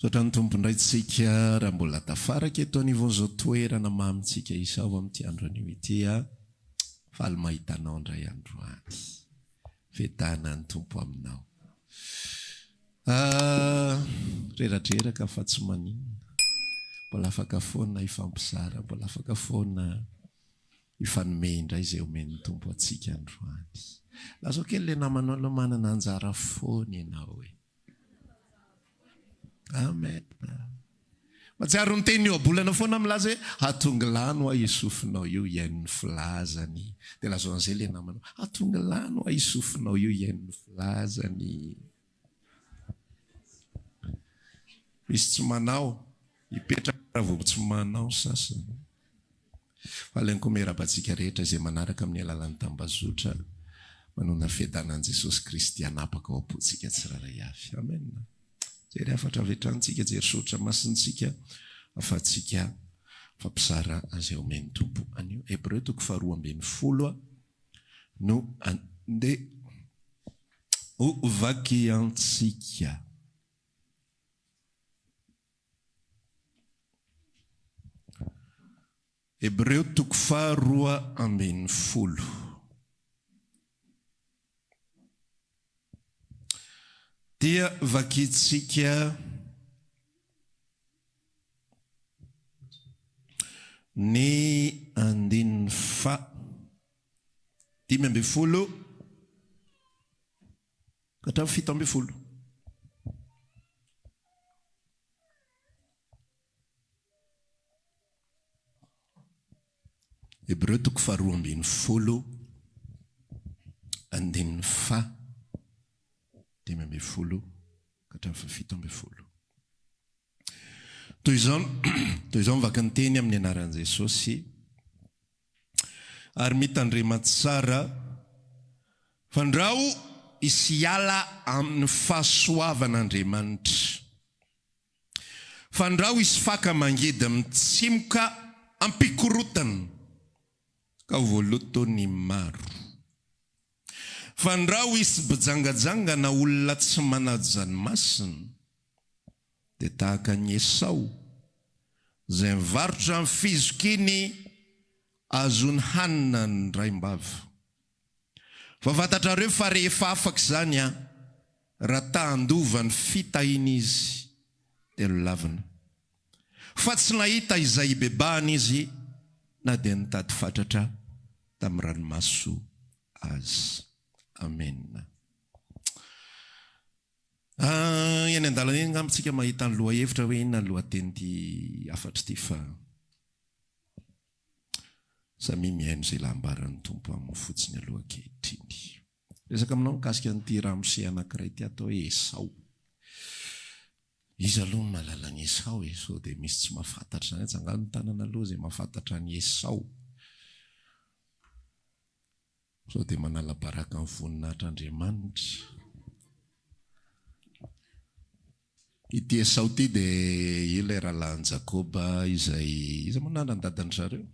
Misaotra ny Tompo indray tsika raha mbola tafaraka eto anivon'izao toerana mamintsika izao amin'ity andro anio ity a. Faly mahita anao indray androany. Fetana ny Tompo aminao. Ah, reradreraka fa tsy maninona. Mbola afaka foana hifampizara, mbola afaka foana. Hifanome indray izay omen'ny Tompo antsika androany. Lazao kely ilay namanao aloha, manana anjara foana ianao e. Amen. Mahatsiaro ny tenin'ny ohabolana foana milaza hoe hatongy lany hoa io sofinao io hihaino ny filazany. Dia lazao an'izay ilay namanao, hatongy lany hoa io sofinao io hihaino ny filazany. Misy tsy manao, hipetraka raha vao tsy manao ny sasany. Valiny koa miarahaba antsika rehetra izay manaraka amin'ny alalan'ny tambazotra manohana fiadanan'i Jesosy Kristy hanapaka ao am-pontsika tsirairay avy. Amen. Jery hafatra avy hatrany tsika, jery soritra masina tsika ahafahantsika mifampizara izay omen'ny Tompo anio. Hebreo toko faharoa ambin'ny folo no andeha. Ho vakiantsika. Hebreo toko faharoa ambin'ny folo. Dia vakintsika ny andininy faha. dimy ambin'ny folo ka hatramin'ny fito ambin'ny folo. Hebreo toko faharoa ambin'ny folo andininy fa dimy ambin'ny folo ka hatramin'ny fito ambin'ny folo. Toy izao toy izao ny vakanteny amin'ny anaran'i Jesosy ary mitandrema tsara fandrao sy hiala amin'ny fahasoavan'Andriamanitra. Fandrao hisy faka mangidy mitsimoka am-pikorotana ka ho voaloto ny maro. Fandrao hisy bjangajangana olona tsy manaja ny masina. dia tahaka an'i Esao, izay mivarotra amin'ny fizokiany azony hanina ny raim-bava. Fa fantatrareo fa rehefa afaka izany aho, raha ta handova ny fitahiany izy, dia nolavina. Fa tsy nahita izay hibebahana izy na dia nitady fatratra tamin'ny ranomaso aza. Amena. Ahh, eny an-dalana eny angamba tsika mahita ny lohahevitra hoe inona ny lohatenin'ity hafatra ity fa samia mihaino izay lahambaran'ny Tompo aminy fotsiny aloha ankehitriny. Resaka aminao mikasika an'ity ramose anankiray ity atao hoe Esao. Iza aloha no mahalala an'i Esao e? Sao dia misy tsy mahafantatra izany etsy? Angano ny tanana aloha izay mahafantatra an'i Esao. Sao dia manala baraka ny voninahitr' Andriamanitra. Ity Esao ity dia io ilay rahalahin'i Jakoba izay, iza moa ny anaran'ny dadan-dry zareo?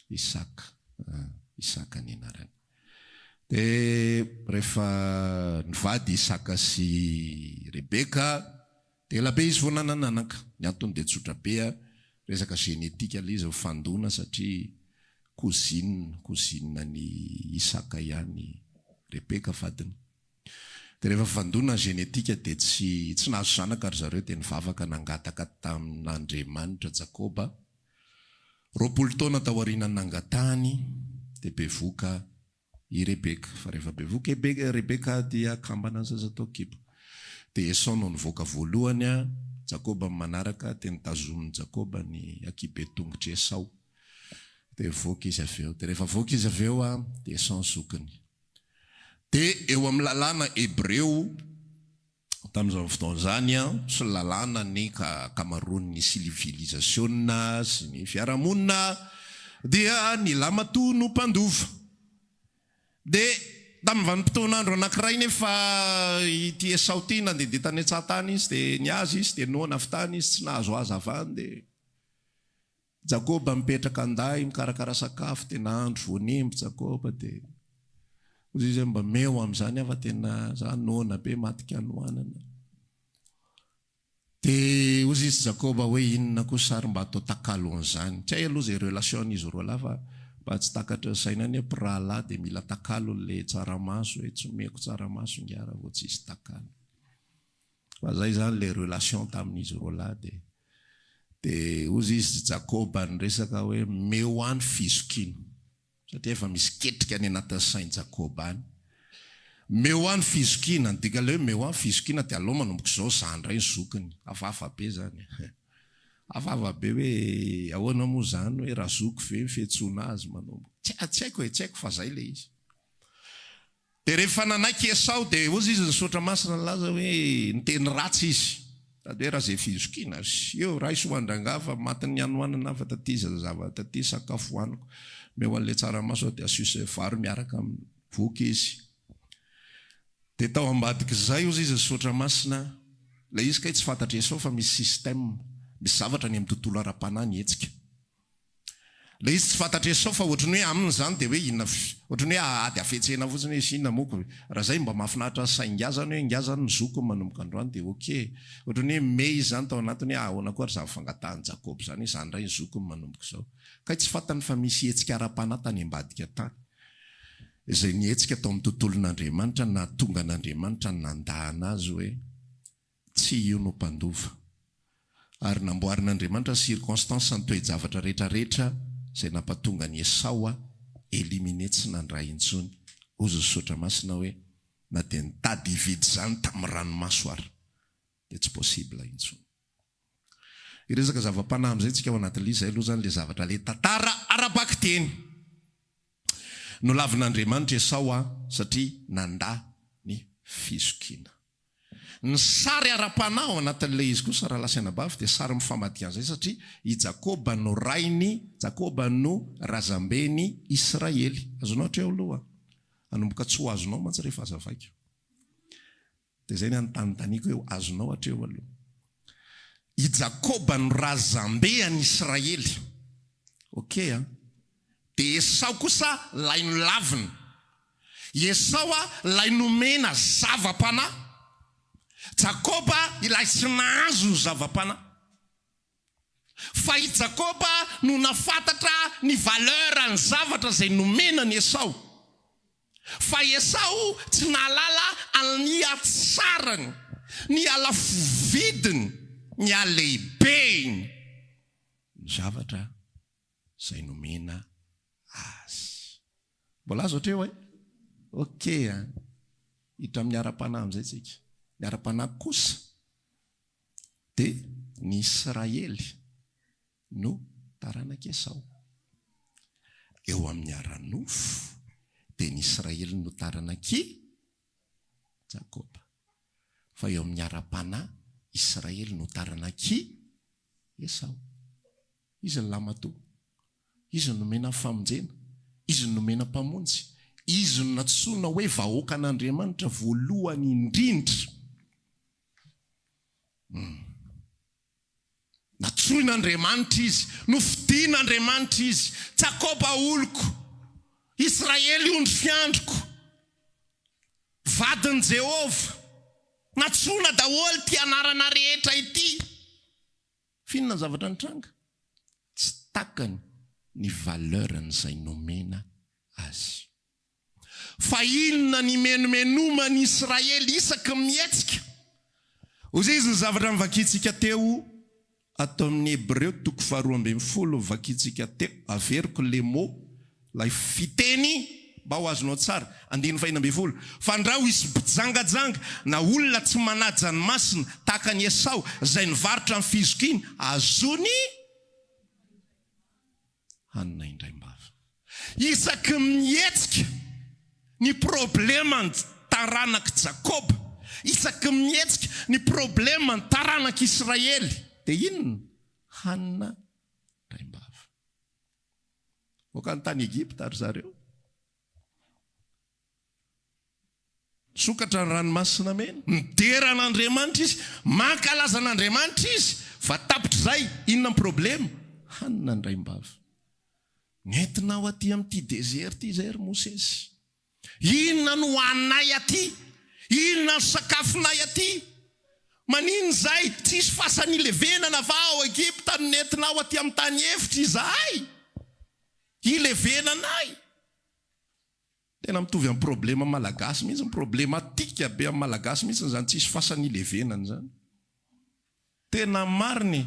Isaka, Isaka ny anarany. Dia rehefa nivady Isaka sy Rebeka Ela be izy vao nanananaka, ny antony dia tsotra be a, resaka génétique ilay izy mifandona satria cousine, cousine an'i Isaka ihany Rebeka vadiny. Dia rehefa mifandona ny génétique dia tsy tsy nahazo zanaka ry zareo dia nivavaka nangataka tamin'Andriamanitra Jakoba, roapolo taona taorianan'ny nangatahany dia bevoka i Rebeka, fa rehefa bevoka i Rebeka dia kambana ny zaza tao an-kibo. Dia Esao no nivoaka voalohany, Jakoba ny manaraka, dia notazomin'i Jakoba ny ankihibe tongotr'i Esao, dia nivoaka izy avy eo. Dia rehefa nivoaka izy avy eo, dia Esao ny zokiny. Dia eo amin'ny lalàna hebreo. Tamin'izany fotoana izany, tsy lalàna ny ankamaroan'ny silivilizasiona sy ny fiarahamonina dia ny lamatoa no mpandova. Dia tamin'ny vanim-potoan'andro anankiray nefa ity Esao ity nandehandeha tany an-tsaha tany izy dia nihaza izy dia noana avy tany izy tsy nahazo hazavana dia. Jakoba mipetraka an-dahy mikarakara sakafo dia nahandro voanimby Jakoba dia hozy izy hoe mba meo amin'izany aho fa tena za noana be maty kanoanana. Dia hozy izy Jakoba hoe inona kosa ary mba atao takalon'izany. Tsy hay aloha izay relation'izy roa lahy fa mba tsy takatry ny saina ny hoe mpirahalahy dia mila takalon'ilay tsaramaso hoe tsy omeko tsaramaso ingahy raha vao tsisy takalo. Fa zay zany le relation tamin'izy roa lahy de de ozy izy Jakoba niresaka hoe meo any fizokiana satria efa misy ketrika any anatin'ny sain'i Jakoba any meo any fizokiana ny dikan'ilay hoe meo any fizokiana de aleo manomboka izao za ndray ny zokiny hafahafa be zany e hafahafa be hoe ahoana moa zany hoe razoky ve ny fiantsoana azy manomboka tsy haiko e tsy haiko fa zay le izy. Dia rehefa nanaiky i Esao, dia hozy izy, Ny Soratra Masina nilaza hoe, Niteny ratsy izy. Sady hoe, Raha izay fizokiana, asio, raiso ho an-dRangahy, fa matin'ny hanoanana aho, fa taty izany zava, taty sakafo hohaniko. Omeo an'ilay tsaramaso aho, dia asio izay vary miaraka aminy. Voky izy. Dia tao ambadik'izay, hozy izy, Ny Soratra Masina, Ilay izy kay tsy fantatr'i Esao fa misy système, misy zavatra any amin'ny tontolo ara-panahy ny hetsika. Ilay izy tsy fantatr'i Esao fa ohatran'ny hoe aminy izany dia hoe inona ohatran'ny hoe ady hafetsena fotsiny hoe inona moa ko raha izay mba mahafinaritra ny sainga ahy izany hoe ingahy izany ny zokiko manomboka androany dia ok ohatran'ny hoe mey izy izany tao anatiny hoe ahoana koa ary izany fangatahan'i Jacob izany hoe izany indray ny zokiko manomboka izao kay tsy fantany fa misy hetsika ara-panahy tany ambadika tany izay nihetsika tao amin'ny tontolon'Andriamanitra nahatonga an'Andriamanitra nandà anazy hoe Tsy io no mpandova. Ary namboarin'Andriamanitra circonstances and toe-javatra rehetra rehetra izay nampatonga an'i Esao ha éliminer tsy nandray intsony. Hozy ny Soratra Masina hoe na dia nitady hividy izany tamin'ny ranomaso ary dia tsy possible intsony. Hiresaka zava-panahy amin'izay tsika ao anatin'ilay izay aloha izany ilay zavatra ilay tantara ara-bakiteny. Nolavin'Andriamanitra Esao aho satria nandà ny fizokiana. Ny sary ara-panahy ao anatin'ilay izy kosa, rahalahy sy anabavy, dia sary mifamadika an'izay satria i Jakoba no rain'i Jakoba no razamben'i Israely. Azonao hatreo aloha, hanomboka tsy ho azonao mantsy rehefa azavaiko. Dia izay ny anontanintaniako eo, azonao atreho aloha. I Jakoba no razambe an'i Israely. Ok an! Dia Esao kosa ilay nolavina. I Esao ilay nomena zava-panahy. Jakoba ilay tsy nahazo ny zava-panahy. Fa i Jakoba no nafantatra ny valeur ny zavatra izay nomena an'i Esao. Fa i Esao tsy nahalala ny hatsarany, ny halafovidiny, ny halehibeny ny zavatra izay nomena azy. Mbola azo hatreo e? Ok a! Hiditra amin'ny ara-panahy amin'izay tsika. Ny ara-panahy kosa. dia ny Israely no taranak'i Esao. Eo amin'ny ara-nofo dia ny Israely no taranak'i Jakoba, fa eo amin'ny ara-panahy, Israely no taranak'i Esao. Izy no lahimatoa, izy no nomena famonjena, izy no nomena mpamonjy, izy no nantsoina hoe vahoakan'Andriamanitra voalohany indrindra. Natsoin'Andriamanitra izy, nofidin'Andriamanitra izy. Jakoba oloko, Israely ondry fiandriko, vadin'i Jehovah. Nantsoina daholo ity anarana rehetra ity. F'inona ny zavatra nitranga? Tsy takany ny valeur-n'izay nomena azy. Fa inona ny menomenoma ny Israely isaky ny mihetsika? Hoy izy ny zavatra novakintsika teo ato amin'ny Hebreo toko faharoa ambin'ny folo, vakintsika teo, averiko le mot, ilay fiteny mba ho azonao tsara, andininy fahina ambin'ny folo, Fa ndra ho hisy mpijangajanga na olona tsy manaja ny masina tahaka an'i Esao izay nivarotra ny fizokiany, azony. hanina indraim-bava. Isaky ny mihetsika ny probleman'ny taranak'i Jakoba, isaky ny mihetsika ny probleman'ny taranak'i Israely, dia inona? Hanina indraim-bava. Voakan'ny tany Egypta ry zareo. Misokatra ny ranomasina mena. Midera an'Andriamanitra izy. Mankalaza an'Andriamanitra izy fa tapitr'izay inona ny problema? Hanina indray mbavy. Nentinao aty amin'ity désert ity izay ry Mosesy. Inona no hohaninay aty? Inona no sakafonay aty? Maninona izay? Tsisy fasana ilevenana va ao Egypta no nentinao aty amin'ny tany efitra izahay hilevenanay? Tena mitovy am problema malagasy mihitsy, problematika be am malagasy mihitsy zany tsisy fasany ilevenany zany. Tena marina e!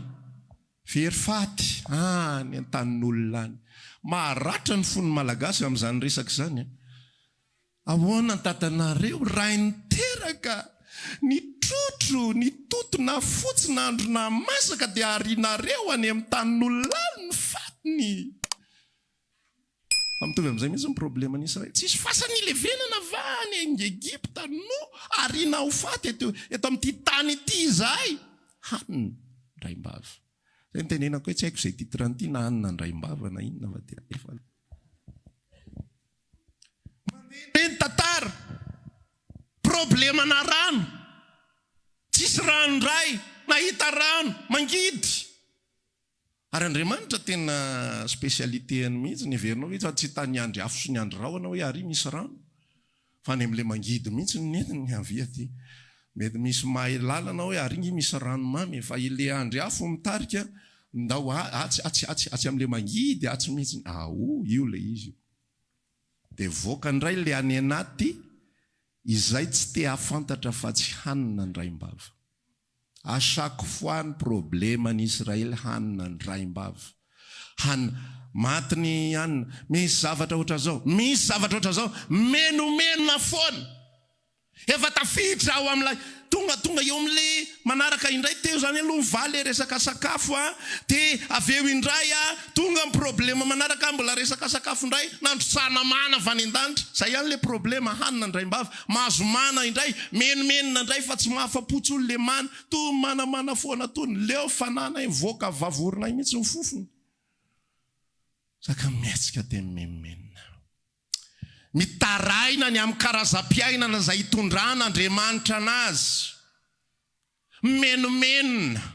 Very faty any antanin'olona any. Maharatra ny fon'ny malagasy amzany resaka izany a! Ahoana ny dadanareo raha niteraka, nitrotro, nitoto, nafotsy, nandro, namasaka dia arinareo any am tanin'olona any ny fatiny? Fa mitovy amin'izay mihitsy ny probleman'i Israely. Tsisy fasany hilevenana va any an'i Egypta no ariana ho faty eto eto amin'ity tany ity izahay? Hany an-draim-bava. Izay no tenenako hoe tsy haiko izay titre-ny ity na hany an-draim-bava na inona fa dia efa mandehandeha ny tantara. Problemana rano. Tsisy rano indray. Nahita rano. Mangidy. Ary Andriamanitra tena spécialité-any mihitsy, neverinao ve fa tsy tany andry afo sy ny andry rahona hoe ary misy rano? Fa any amin'ilay mangidy mihitsy ny neny ny havia aty. Mety misy mahay lalana hoe ary nge misy rano mamy e! Fa ilay andry afo mitarika ndao atsy atsy atsy atsy amin'ilay mangidy atsy mihitsy ny aoh! Io ilay izy io. Dia voaka ndray ilay any anaty izay tsy te hahafantatra fa tsy hanina andraimbava. A chaque fois ny problème ny Israel hanina ny raimbavy han maty ny an misy zavatra otrazao misy zavatra otrazao menomenona foana efa tafiditra ao amlay tonga tonga eo amle manaraka indray teo zany aloha ny va le resaka sakafo a de aveo indray a tonga ny problème manaraka mbola resaka sakafo indray nandrotsahana mana avy any an danitra zay ihany le problème hanina ny raimbavy Mahazo mana indray, menomenona indray fa tsy mahafa-po tsony le mana, toa manamana foana tony, leo fananay mivoaka vavorinay mihitsy ny fofony. Saka mihetsika dia mimenomenona. Mitaraina ny amin'ny karazam-piainana izay itondrana Andriamanitra anazy. Mimenomenona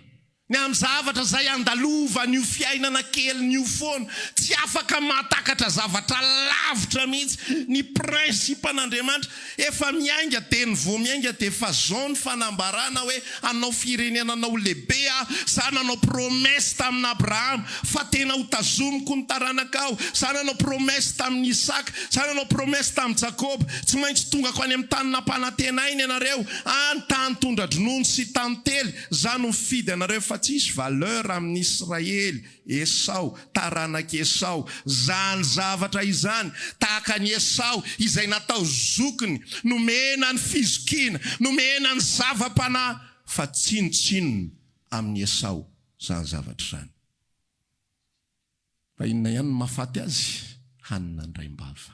ny amin'ny zavatra izay andalovan'io fiainana keliny io foana. Tsy afaka mahatakatra zavatra lavitra mihitsy. Ny prinsipan'Andriamanitra efa miainga dia ny vao miainga dia efa izao ny fanambarana hoe hanao firenena anao lehibe aho. Izaho nanao promesse tamin'Abrahama fa tena hotazomiko ny taranakao. Izaho nanao promesse tamin'i Isaka. Izaho nanao promesse tamin'i Jakoba. Tsy maintsy tongako any amin'ny tany nampanantenaina ianareo. Any tany tondradronono sy tantely za no mifidy anareo fa tsisy valeur aminy Israely, Esao, taranak'i Esao, zany zavatra izany, tahaka an'i Esao izay natao zokiny, nomena ny fizokiana, nomena ny zava-panahy, fa tsinontsinona amin'i Esao zany zavatra izany. Fa inona ihany no mahafaty azy? Hanina andraimbava.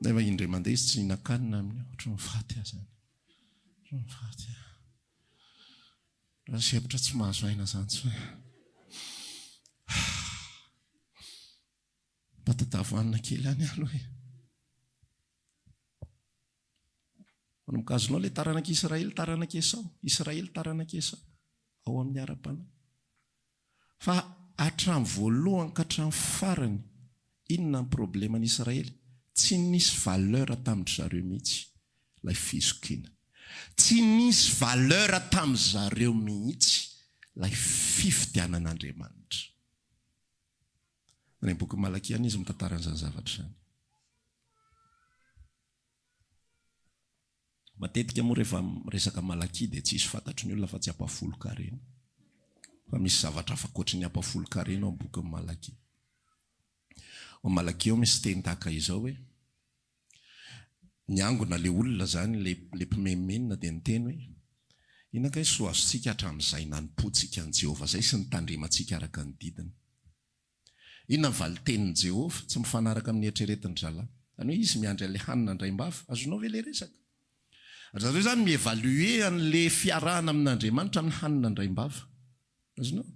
Nefa indray mandeha izy tsy hihinan-kanina aminy, ohatry ny faty aza any. Ohatry ny faty aza. Lasa hevitra tsy mahazo aina izany intsony. Mba tadiavo hanina kely ihany aloha e. Hono ka azonao ilay taranak'i Israely taranak'i Esao, Israely taranak'i Esao ao amin'ny ara-panahy. Fa hatramin'ny voalohany ka hatramin'ny farany, inona ny probleman'i Israely? Tsy nisy valeur tamin-dry zareo mihitsy ilay fizokiana. Tsy nisy valeur tamin-dry zareo mihitsy ilay fifidianan'Andriamanitra. Any amin'ny bokin'i Malakia any izy mitantara an'izany zavatra izany. Matetika moa rehefa miresaka Malakia dia tsisy fantatry ny olona afa-tsy ampahafolon-karena. Fa misy zavatra hafa ankoatry ny ampahafolon-karena ao amin'ny bokin'i Malakia. Ao Malakia ao misy teny tahaka izao hoe, Niangona ilay olona izany, ilay ilay mpimenomenona dia niteny hoe, Inona kay soa azontsika hatramin'izay nanompoantsika an'i Jehovah izay sy nitandremantsika araka ny didiny? Inona ny valintenin'i Jehovah? Tsy mifanaraka amin'ny eritreretin'ny zalahy. Izany hoe izy miandry an'ilay hanina andraim-bava. Azonao ve ilay resaka? Ry zareo izany mi-évaluer an'ilay fiarahana amin'Andriamanitra amin'ny hanina andraim-bava. Azonao?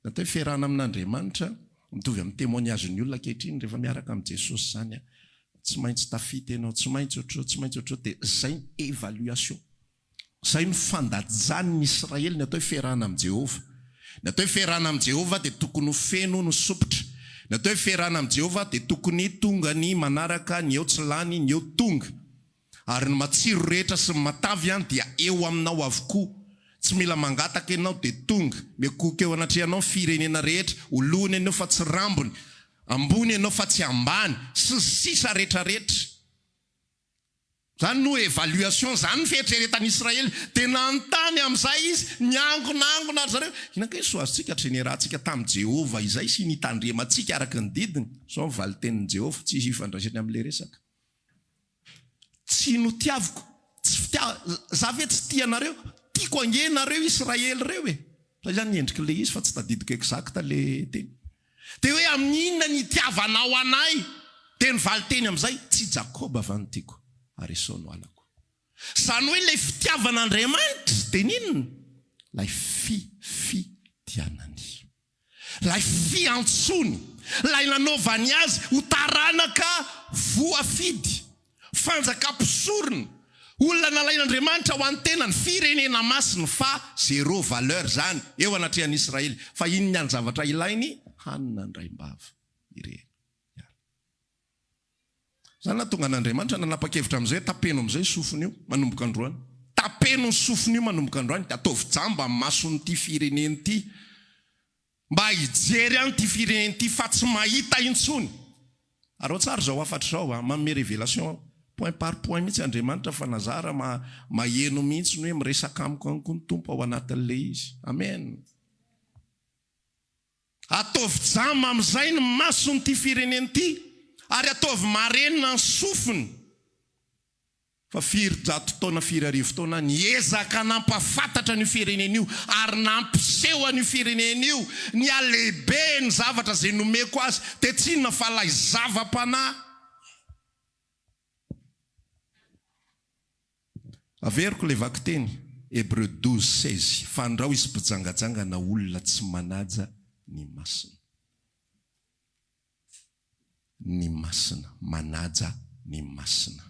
Ny atao hoe fiarahana amin'Andriamanitra, mitovy amin'ny témoignage-n'ny olona ankehitriny rehefa miaraka amin'i Jesosy izany an! Tsy maintsy tafita ianao, tsy maintsy ohatr'izao, tsy maintsy ohatr'izao, dia izay ny évaluation. Izay no fandajan'ny Israely ny atao hoe fiarahana amin'i Jehovah. Ny atao hoe fiarahana amin'i Jehovah dia tokony ho feno no sompitra. Ny atao hoe fiarahana amin'i Jehovah dia tokony tonga ny manaraka, ny eo tsy lany, ny eo tonga. Ary ny matsiro rehetra sy ny matavy an dia eo aminao avokoa, tsy mila mangataka ianao dia tonga, miakohoka eo anatrehanao ny firenena rehetra, ho lohany ianao fa tsy rambony, ambony ianao fa tsy ambany, sy ny sisa retraretra. Izany no evaluation, izany ny fieritreretan'i Israely, dia nanontany amin'izay izy, niangonangona ry zareo, Inankaiso ho azontsika hatry ny iarahantsika tamin'i Jehovah izay sy ny hitandremantsika araka ny didiny? Izao ny valintenin'i Jehovah, Tsy hifandraisany amin'ilay resaka. Tsy notiaviko, tsy fitiav, za ve tsy tia anareo? Tiako ange nareo Israely reo e! Zay zany ny endriky le izy fa tsy tadidiko exact le teny. De hoe amin'ny inona ny itiavanao anay? De ny valinteny amzay, tsy i Jakoba va no tiako, ary Esao no halako. Zany hoe le fitiavan'Andriamanitra de ny inona? Lay fi, fi, tianany. Ilay fiantsoany, Ilay nanaovany azy ho taranaka voafidy, fanjaka mpisorona, olona nalain'Andriamanitra ho an'ny tenany, firenena masina, fa zéro valeur izany eo anatrehan'i Israely, fa inona ny zavatra ilainy? Hanina an-draim-bava ireny ihany. Izany nahatonga an'Andriamanitra nanapa-kevitra amin'izay hoe tapeno amin'izao io sofina io manomboka androany. Tapeno ny sofina io manomboka androany dia ataovy jamba amin'ny mason'ity firenena ity mba hijery an'ity firenena ity fa tsy mahita intsony. Araho tsara izao hafatra izao an, manome révélation point par point mihitsy Andriamanitra fa na za ara maheno mihitsy ny hoe miresaka amiko ihany koa ny Tompo ao anatin'ilay izy. Amen. Ataovy jamba amin'izay ny mason'ity firenena ity ary ataovy marenina ny sofiny fa firy jato taona, firy arivo taona niezaka nampahafantatra an'io firenena io ary nampiseho an'io firenena io ny halehiben'ny zavatra izay nomeko azy dia tsy inona fa ilay zava-panahy. Averiko le vakiteny, Hébreux douze, seize, fandrao izy mpijangajanga na olona tsy manaja ny masina. Ny masina, manaja ny masina.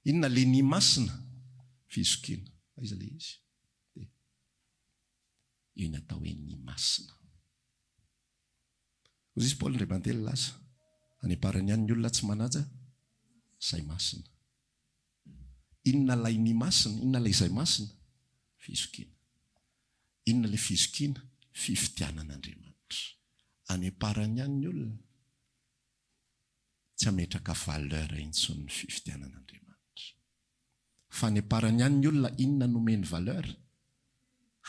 Inona le ny masina? Fizokiana. Aiza le izy? Dia io ny atao hoe ny masina. Hoy izy Paoly ndray mandeha nilaza, any am-parany any ny olona tsy manaja izay masina. Inona ilay ny masina? Inona ilay izay masina? Fizokiana. Inona ilay fizokiana? Fifidianan'Andriamanitra. Any am-parany any ny olona tsy hametraka valeur intsony ny fifidianan'Andriamanitra. Fa any am-parany any ny olona inona no omeny valeur?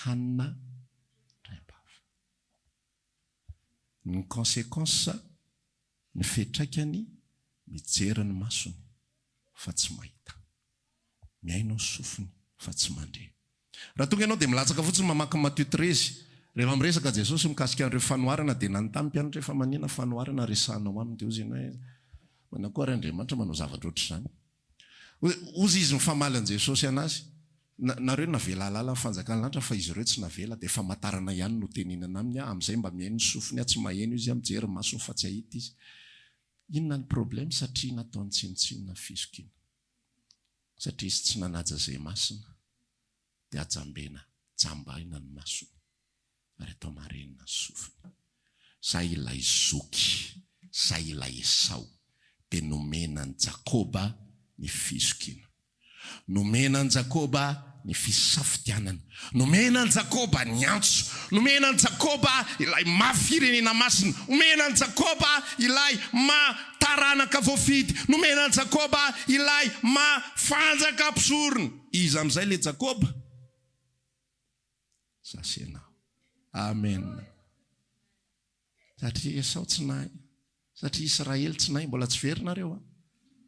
Hanina raim-bava. Ny consequence, ny fetraikany mijery ny masony fa tsy mahita. Mihaino ny sofiny fa tsy mandre. Raha tonga ianao dia milatsaka fotsiny mamaky Matio trezy. Rehefa miresaka Jesosy mikasika an'ireo fanoharana dia nanontany mpianatra hoe fa manina fanoharana resahanao aminy dia hozy ianao hoe manao akory Andriamanitra manao zavatra ohatr'izany. Hozy izy mifamaly an'i Jesosy anazy, Na, nareo navela hahalala ny fanjakan'ny lanitra fa izy ireo tsy navela, dia famantarana ihany no hotenenana aminy aho, amin'izay mba mihaino ny sofiny aho, tsy maheno izy aho, mijery ny masony fa tsy hahita izy. Inona ny problème? Satria nataony tsinontsinona ny fizokiana. Satria izy tsy nanaja izay masina, dia hajambena, jambaina ny masony. Ary atao marenina ny sofiny. Izay ilay zoky, izay ilay Esao, dia nomena an'i Jakoba ny fizokiana. Nomena an'i Jakoba ny fisafidianana. Nomena an'i Jakoba ny antso. Nomena an'i Jakoba ilay maha firenena masina. Omena an'i Jakoba ilay maha taranaka voafidy. Nomena an'i Jakoba ilay maha fanjaka mpisorona. Iza amin'izay ilay Jakoba? za sy ianao. Amen. Satria Esao tsy nahay. Satria Israely tsy nahay. Mbola tsy very nareo an.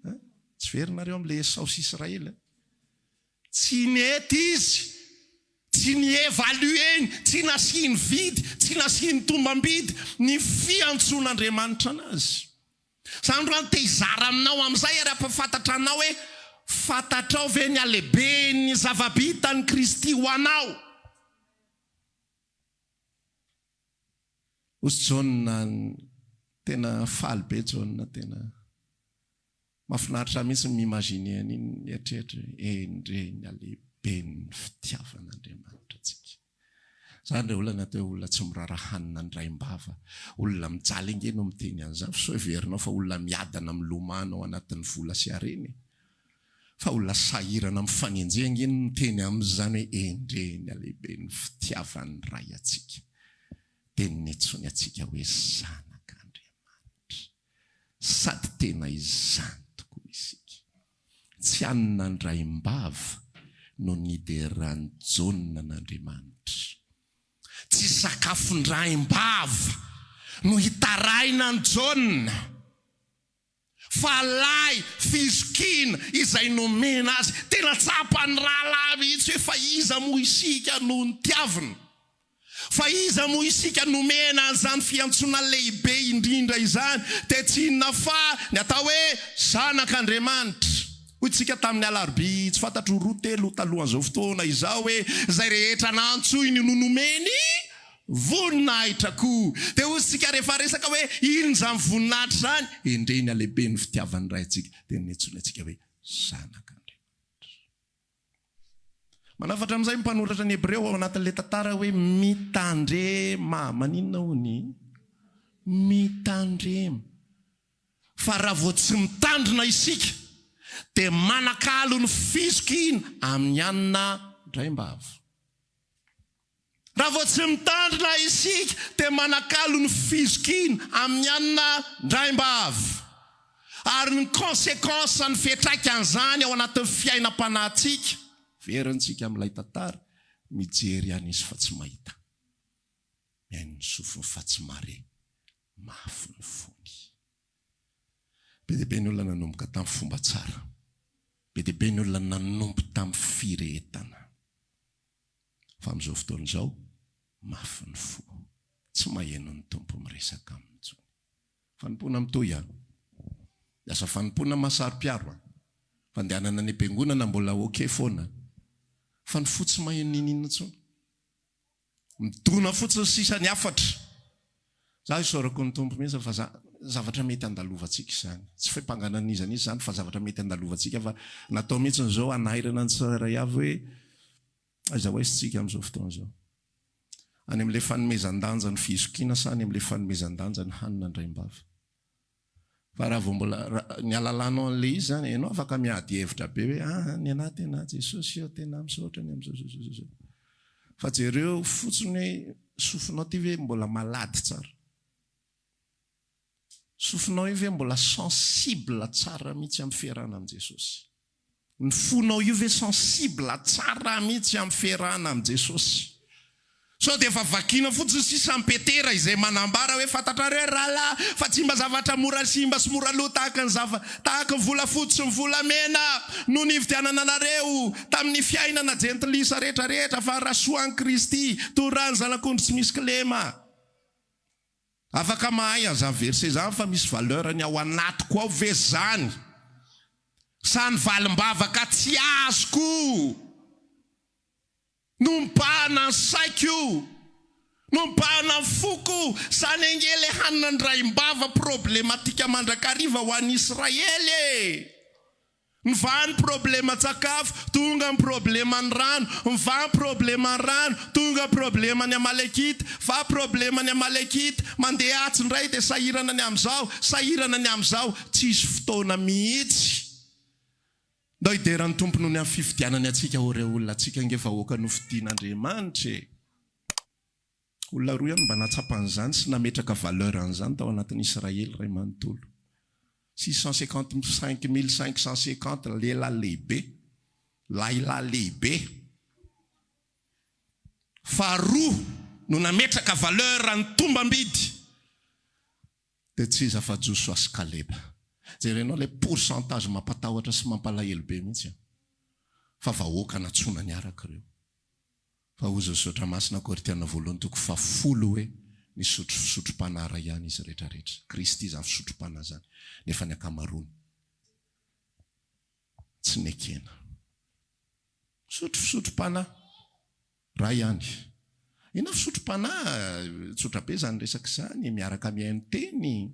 Eh? Tsy very nareo amin'ilay Esao sy Israely. Eh? Tsy nety izy. Tsy nievalueny, tsy nasiany vidy, tsy nasiany tombam-bidy ny fiantsoan'Andriamanitra anazy. Zany ro te hizara aminao amin'izay ary hampafantatra anao hoe fantatrao ve ny halehiben'ny zava-bitan'i Kristy ho anao. Hozy Jaona, Tena faly be Jaona, tena mahafinaritra mihitsy ny mi-imaginer an'iny, mieritreritra hoe, Endrey ny halehiben'ny fitiavan'Andriamanitra antsika. Zany ilay olana atao hoe olona tsy miraharaha hanina ny raim-bava. Olona mijaly ange no miteny an'izany. Sao heverinao fa olona miadana milomano ao anatin'ny vola sy harena e? Fa olona sahirana mifanenjeha ange no miteny amin'izany hoe endrey ny halehiben'ny fitiavan'ny Ray antsika. Dia nitsoiny antsika hoe zanak'Andriamanitra. Sady tena izany tokoa isika. Tsy an'Andraimbava no nideran'i Jaona an'Andriamanitra. Tsy sakafon-dRaim-bava no hitaraina an'i Jaona, fa lay fizokiana izay nomena azy. Tena tsapan'ny rahalahy mihitsy hoe fa iza moa isika no notiavina. Fa iza moa isika nomena an'izany fiantsoana lehibe indrindra izany? Dia tsy inona fa ny atao hoe zanak'Andriamanitra. Hoy isika tamin'ny alarobia tsy fantatro roa telo talohan'izao fotoana izao hoe, Izay rehetra nantsoiny no nomeny voninahitra koa. Dia hoy isika rehefa resaka hoe inona izany voninahitra izany? Endrey ny halehiben'ny fitiavan'ny Ray antsika dia nentsoina antsika hoe zanak'Andriamanitra. Manafatra amin'izay ny mpanoratra ny Hebreo ao anatin'ilay tantara hoe mitandrema. Maninona hono? Mitandrema. Fa raha vao tsy mitandrina isika, dia manakalo ny fizokiana amin'ny anona indraimbava. Raha vao tsy mitandrina isika dia manakalo ny fizokiana amin'ny anona an-draim-bavy ary ny consequence, ny fiantraikan'izany ao anatin'ny fiainam-panahintsika. Very antsika amin'ilay tantara, mijery ihany izy fa tsy mahita, mihaino ny sofiny fa tsy mahare, mafy ny fony. Be dia be ny olona nanomboka tamin'ny fomba tsara, be dia be ny olona nanompo tamin'ny firehetana. Fa amin'izao fotoana izao, mafy ny fo. Tsy maheno ny Tompo miresaka aminy intsony. Fanompoana mitohy an! Dia asa fanompoana mahasaro-piaro an! Fandehanana any am-piangonana mbola ok foana an! Fa ny fo tsy maheno n'inon'inona intsony. Midona fotsiny sisa ny hafatra. Za isaorako ny Tompo mihitsy fa za zavatra mety andalovantsika izany. Tsy fiampangana an'iza n'iza izany fa zavatra mety andalovantsika fa natao mihitsy izao hanairana ny tsirairay avy hoe aiza ho aiza tsika amin'izao fotoana izao. Any amin'ilay fanomezan-danja ny fizokiana sa any amin'ilay fanomezan-danja ny hanina andraimbava. Fa raha vao mbola ny alalanao an'ilay izy izany, ianao afaka miady hevitra be hoe ah ny anah tena Jesosy ô tena misaotra ny amin'izao. Fa jereo fotsiny hoe sofinao ity ve mbola malady tsara? Sofinao io ve mbola sensible tsara mihitsy amin'ny fiarahana amin'i Jesosy? Ny fonao io ve sensible tsara mihitsy amin'ny fiarahana amin'i Jesosy? Sao dia efa vakiana fotsiny sisa an'i Petera izay manambara hoe, Fantatrareo ry rahalahy, fa tsy mba zavatra mora simba sy mora lo tahaka ny zava, tahaka ny volafotsy sy ny volamena no nividianana anareo tamin'ny fiainana jentilisa rehetrarehetra, fa ny Rasoan'i Kristy, toy rà ny zanak'ondry tsy misy kilema. Afaka mahay an'izany verset izany fa misy valeur ny ao anatiko ao ve izany? Sa ny valim-bavaka tsy azoko no mibahana ny saiko, no mibahana ny foko? Izany ange le hanina andraim-bava problematika mandrakariva ho an'i Israely e! Mivaha ny probleman-tsakafo, tonga ny probleman'ny rano. Mivaha ny probleman'ny rano, tonga ny probleman'ny Amalekita. Fa probleman'ny Amalekita, mandeha atsy indray dia sahirana ny amin'izao, sahirana ny amin'izao. Tsy hisy fotoana mihitsy ndao hideran'ny Tompo noho ny amin'ny fifidianany antsika ô rey olona, antsika ange vahoaka nofidin'Andriamanitra e! Olona roa ihany no mba nahatsapa an'izany sy nametraka valeur an'izany tao anatin'ny Israely iray manontolo. Six cent cinquante cinq mille cinq cent cinquante lehilahy lehibe, lahilahy lehibe. Faharoa no nametraka valeur ny tombam-bidy dia tsy iza fa Josoa sy Kaleba. Jerenao ilay pourcentage mampatahotra sy mampalahelo be mihitsy an! Fa vahoaka nantsoina niaraka ireo. Fa hoy Zosotra Masina Koritiana Voalohany toko faha folo hoe, Nisotro fisotrom-panahy iray ihany izy rehetra rehetra. Kristy izany fisotrom-panahy izany, nefa ny ankamaroany tsy nekena. Nisotro fisotrom-panahy iray ihany. Inona fisotrom-panahy? Tsotra be izany resaka izany, miaraka mihaino teny.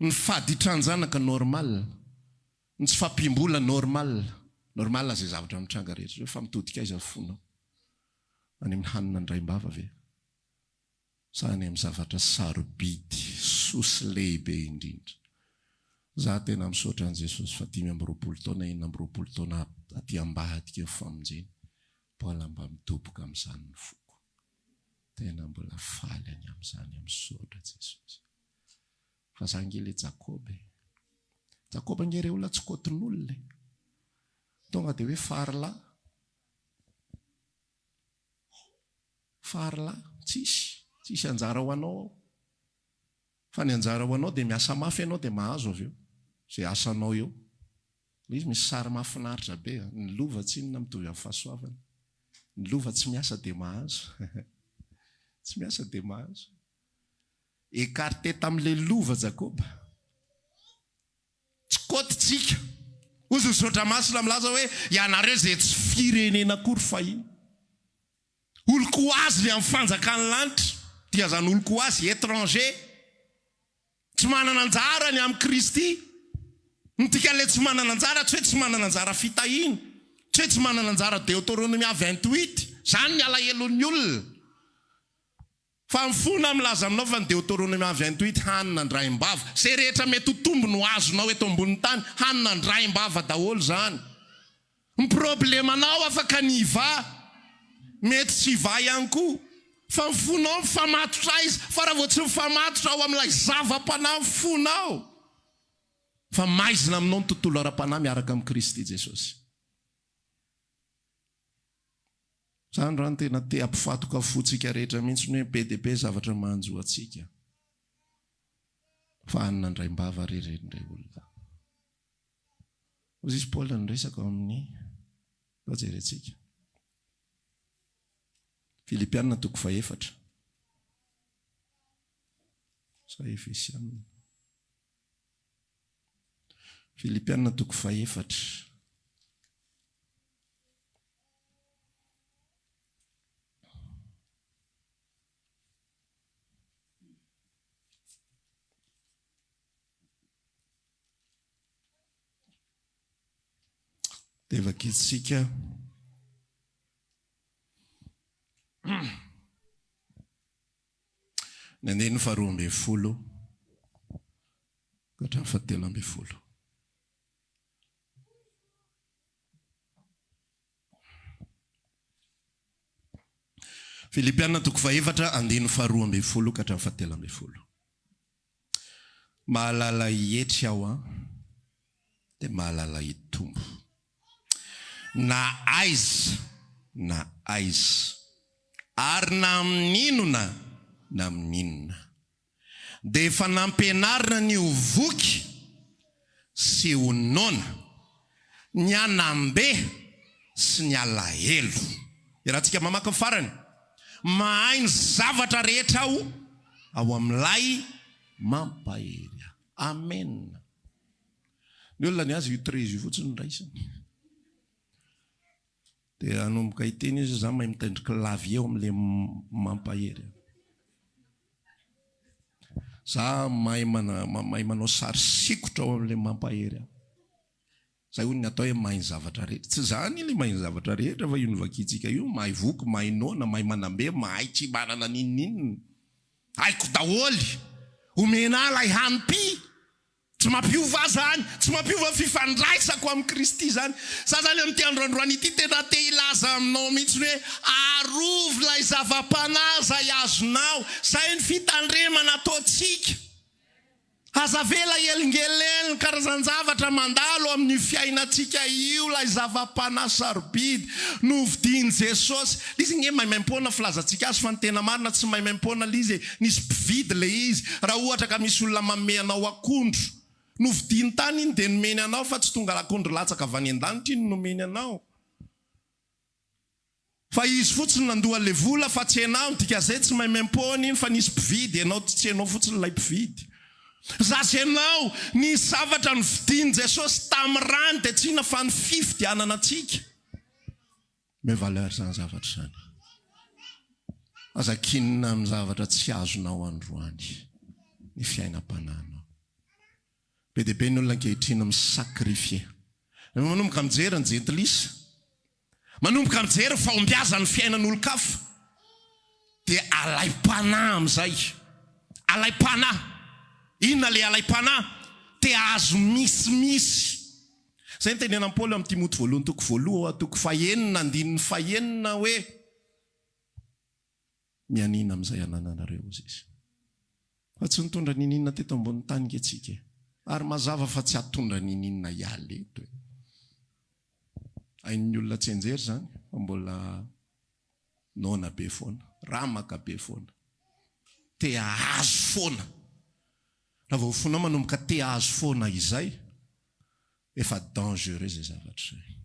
Ny faditran-janaka normal, ny tsy fahampiam-bola normal, normal izay zavatra mitranga rehetra izao fa mitodika aiza ny fonao? Any amin'ny hanina an-draim-bava ve? Sa any amin'ny zavatra sarobidy, sosy lehibe indrindra? Za tena misaotra an'i Jesosy fa dimy amby roapolo taona enina amby roapolo taona aty ambadika io famonjena, mbola mba midoboka amin'izany ny foko. Tena mbola faly any amin'izany aho misaotra Jesosy. Fa za ange le Jacob e. Jacob ange rey olona tsy kotin'olona e. Tonga de hoe fary lahy. Fary lahy, tsisy, tsisy anjara ho anao ao. Fa ny anjara ho anao de miasa mafy ianao de mahazo avy eo. Ze asanao eo. Le izy misy sary mahafinaritra be a. Ny lova tsy inona mitovy amin'ny fahasoavana. Ny lova tsy miasa de mahazo. Tsy miasa de mahazo. Écarté tam le lova Jakoba. Tsy côte tsika. Hozy ny Soratra Masina milaza hoe ianareo izay tsy firenena akory fahiny. Olon-koazy le amin'ny fanjakan'ny lanitra. Dia zany olon-koazy, étranger. Tsy manana anjara ny amin'i Kristy. Ny dikan'ilay tsy manana anjara tsy hoe tsy manana anjara fitahiana. Tsy hoe tsy manana anjara Deoteronomia vingt huit. Zany ny alahelon'ny olona. Fa ny fo na milaza aminao fa ny Deoteronomy avy any Toity hanina andraimbava. Izay rehetra mety ho tombo no azonao eto ambonin'ny tany, hanina andraimbava daholo izany. Ny problemanao afaka ny hiva, mety tsy hiva ihany koa. Fa ny fonao mifamatotra aiza? Fa raha vao tsy mifamatotra ao amin'ilay zava-panahy ny fonao, fa maizina aminao ny tontolo ara-panahy miaraka amin'i Kristy Jesosy. Zany ra no tena te hampifadoka fo tsika rehetra mihintsy ny hoe be dia be zavatra mahanjo antsika fa any nandray mbava re re ndray olona. Hozy izy Paul niresaka ao amin'ny toa jerentsika. Filipiana toko faha efatra. Sa Efesiana. Filipiana toko fahefatra. Dia vakintsika. Ny andininy faharoa ambin'ny folo ka hatramin'ny fahatelo ambin'ny folo. Filipiana toko fahefatra, andininy faharoa ambin'ny folo ka hatramin'ny fahatelo ambin'ny folo. Mahalala hietry aho an, dia mahalala hitombo. Na aiza na aiza, ary na amin'ny inona na amin'ny inona, dia efa nampianarina ny ho voky. sy ho noana, ny hanam-be sy ny halahelo. Iarahantsika mamaky ny farany, Mahay ny zavatra rehetra Aho, ao amin'Ilay mampahery Ahy. Amena. Ny olona ny azy io treize io fotsiny no raisiny. Dia hanomboka hiteny izy, za mahay mitendry clavier ao amin'ilay mampahery ahy. Za mahay mahay manao sary sikotra ao amin'ilay mampahery ahy. Zay hono ny atao hoe mahay ny zavatra rehetra. Tsy zany ilay mahay ny zavatra rehetra fa io novakiantsika io, mahay voky, mahay noana, mahay manambe, mahay tsy manana n'inon'inona. Haiko daholo. Omena ahy ilay hanim-py. Tsy mampiova ahy izany, tsy mampiova ny fifandraisako amin'i Kristy izany. Izaho izany amin'ity andro androany ity tena te hilaza aminao mihitsy hoe arovy ilay zava-panahy izay azonao, izay ny fitandremana ataontsika. Aza avela hielingelen' ny karazan-javatra mandalo amin'io fiainantsika io ilay zava-panahy sarobidy novidian'i Jesosy. Ilay izy ange maimaim-poana filazantsika azy fa ny tena marina tsy maimaim-poana ilay izy e. Nisy mpividy ilay izy. Raha ohatra ka misy olona manome anao akondro novidiany tany iny dia nomeny anao fa tsy tonga akondro latsaka avy any an-danitra iny nomeny anao fa izy fotsiny nandoa ilay vola fa tsy ianao, dikazay tsy maimaimpona iny fa nisy mpividy ianao tsy ianao fotsiny ilay mpividy. Zaza ianao, ny zavatra novidian'i Jesosy tamin'ny rany dia tsy inona fa ny fifidianana antsika. Mets valeur izany zavatra izany. Aza kinina amin'ny zavatra tsy azonao androany ny fiainam-panahinao. Be dia be ny olona ankehitriny mi-sacrifier. Manomboka mijery ny jentilisa, manomboka mijery ny fahombiazan'ny fiainan'olon-kafa, dia alaim-panahy amin'izay. Alaim-panahy. Inona ilay alaim-panahy? Te hahazo misimisy. Izay no tenenan'i Paoly amin'i Timoty voalohany toko voaloha toko fahenina andininy fahenina hoe, Mianiana amin'izay anananareo, hozy izy. Fa tsy nitondra niniana teto ambonin'ny tany nge tsika e. Ary mazava fa tsy atondra niniana iala eto e. Hain'ny olona tsianjery izany fa mbola noana be foana, ramaka be foana, te ahazo foana. Raha vao foanao manomboka te ahazo foana izay efa dangereux izay zavatra izay.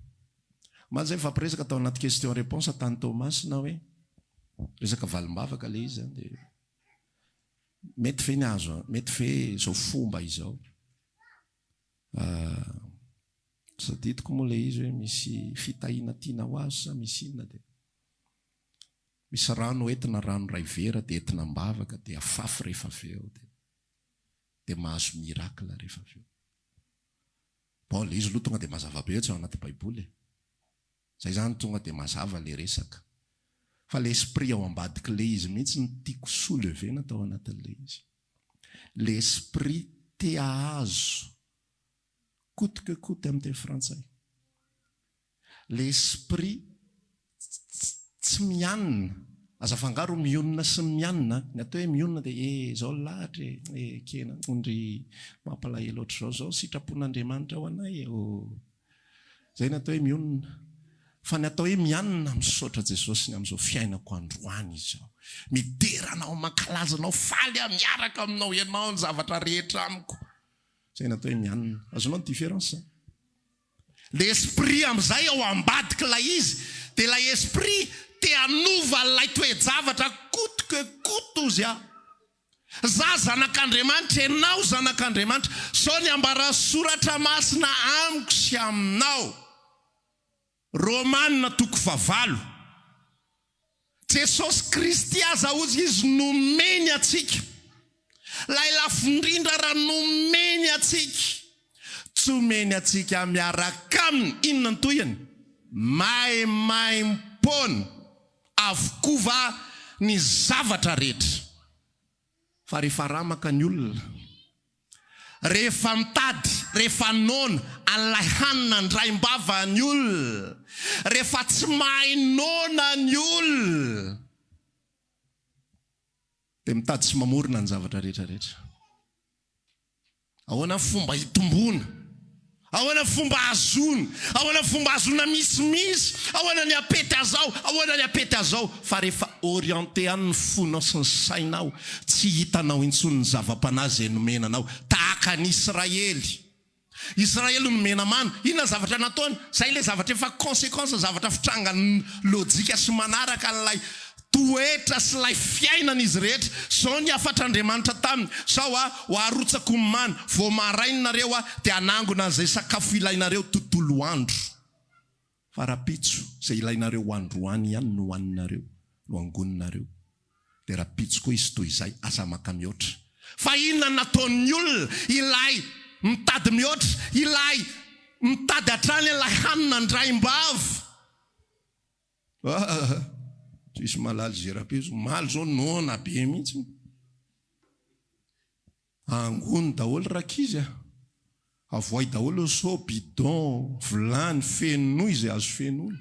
Omaly izay nifampiresaka tao anaty question réponse tany Toamasina hoe resaka valimbavaka ilay izy an dia mety ve ny ahazo an, mety ve izao fomba izao ah, tsy adidiko moa ilay izy hoe misy fitahiana tiana ho azy sa misy inona dia. Misy rano ho entina rano iray vera dia entina am-bavaka dia afafy rehefa avy eo dia dia mahazo miracle rehefa avy eo. Bon ilay izy aloha tonga dia mazava be hoe tsy ao anaty baiboly e. Zay zany tonga dia mazava ilay resaka. Fa ilay esprit ao ambadik'ilay izy mihitsy no tiako soulevena tao anatin'ilay izy. Ilay esprit te-hahazo coute que coute amin'ny teny frantsay. L'esprit tsy mianina. Aza afangaro mionona sy ny mianina an! Ny atao hoe mionona dia eh izao ny lahatra e! eh ekena ndry mampalahelo ohatr'izao izao ny sitrapon'Andriamanitra ho anay e oh! Izay no atao hoe mionona. Fa ny atao hoe mianina, misaotra Jesosy ny amin'izao fiainako androany izao. Midera Anao, mankalaza Anao, faly aho miaraka aminao, Ianao ny zavatra rehetra amiko. Izay no atao hoe mianina. Azonao ny différence? Le esprit amzay ao ambadiky lay izy de lay esprit te hanova lay toe-javatra koto que koto ozy a! Za zanak'Andriamanitra enao zanak'Andriamanitra zao ny ambaran'ny soratra masina amiko sy aminao Romana toko fahavalo. Jesosy Kristy aza hozy Izy nomeny antsika, lay lafondrindra raha nomeny antsika, tsy homeny antsika miaraka aminy inona ny tohiny? Maimaimpoana avokoa va ny zavatra rehetra? Fa rehefa ramaka ny olona. Rehefa mitady, rehefa noana, an'ilay hanina andraim-bava ny olona. Rehefa tsy mahay noana ny olona, dia mitady sy mamorona ny zavatra rehetra rehetra. Ahoana ny fomba hitomboana? Ahoana fomba hazony? Ahoana fomba hazona misimisy? Ahoana ny apety azao? Ahoana ny apety azao? Fa rehefa orienté any ny fonao sy ny sainao, tsy hitanao intsony ny zava-panahy izay nomena anao. Tahaka an'i Israely. Israely nomena mana. Inona ny zavatra nataony? Izay ilay zavatra efa consequence, zavatra fitrangany lojika sy manaraka an'ilay Toetra sy lay fiainana izy rehetra. Zao ny hafatr'Andriamanitra taminy, Zao aho, ho arotsako ny mana, vao maraina nareo aho dia hanangona an'izay sakafo ilainareo tontolo andro. Fa rapitso, izay ilainareo ho androany ihany no hohaninareo, no angoninareo. Dia rapitso koa izy toy izay, aza maka mihoatra. Fa inona no nataon'ny olona, ilay mitady mihoatra, ilay mitady hatrany an'ilay hanina andraimbava? Aa tsisy malal ze rapezy omaly zao noana be mihitsy. Angony daholo rakizy a! Avoay daholo ny seau, bidon, vilany, fenoy ze azo fenoina.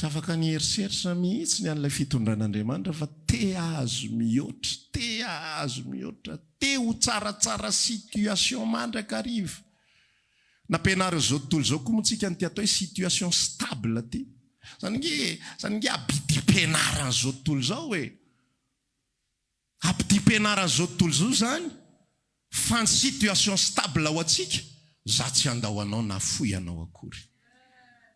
Tsy afaka niheritreritra mihitsy ny an'ilay fitondran'Andriamanitra fa te hahazo mihoatra, te hahazo mihoatra, te ho tsaratsara situation mandrakariva. Nampianarin'izao tontolo izao koa moa tsika an'ity atao hoe situation stable ity. Izany ange, izany ange abidim-pianaran'izao tontolo izao e. Ampidim-pianaran'izao tontolo izao izany fa ny situation stable ho antsika, za tsy handao anao na foy anao akory.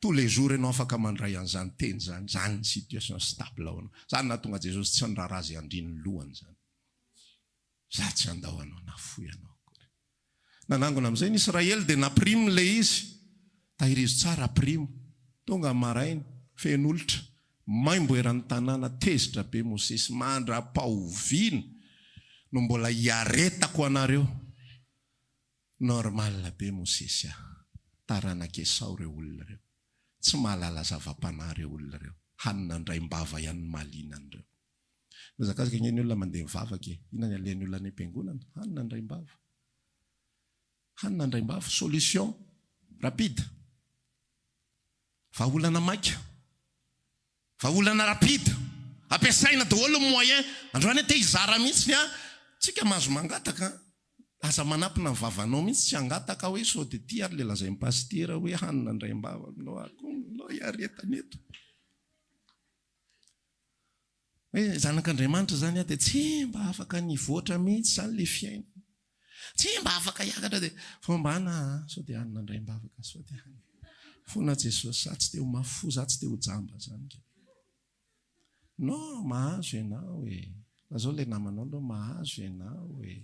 Tous les jours ianao afaka mandray an'izany teny izany, zany ny situation stable ho anao. Zany nahatonga Jesosy tsy niraraha ze andrin'ny lohany zany. Za tsy handao anao na foy anao akory. Nanangona amin'izay ny Israely dia nampirimo ilay izy. Tahirizo tsara, ampirimo. Tonga ny maraina, feno olitra, maimbo eran'ny tanàna, tezitra be Mosesy, Mandra-pao oviana no mbola hiaretako anareo? Normal be Mosesy a! Taranak'i Esao ireo olona ireo. Tsy mahalala zava-panahy ireo olona ireo. Hany nandraim-bava ihany ny mahaliana an'ireo. Mihazakazaka ange ny olona mandeha mivavaka e! Inona ny alehan'ny olona any am-piangonana? Hanina ny raim-bava. Hanina ny raim-bava. Solution rapide. Vahaolana maika. Vahaolana rapide. Ampiasaina daholo ny moyen. Androany aho te hizara mihitsy ny ahy. Tsika mahazo mangataka an! Aza manampina ny vavanao mihitsy tsy hangataka hoe sao dia ity ary ilay lazain'ny pasitera hoe hanina ny raim-bava. Minoa akoho, minoa iaretina eto. Hoe zanak'Andriamanitra izany aho dia tsy mba afaka ny hivoatra mihitsy izany ilay fiainana. Tsy mba afaka hiakatra dia fomba ana sao dia any nandray am-bavaka sao dia any. Fona Jesosy za tsy dia ho mafy fo, za tsy dia ho jamba izany ka. No, mahazo ianao e. Lazao ilay namanao aloha mahazo ianao e.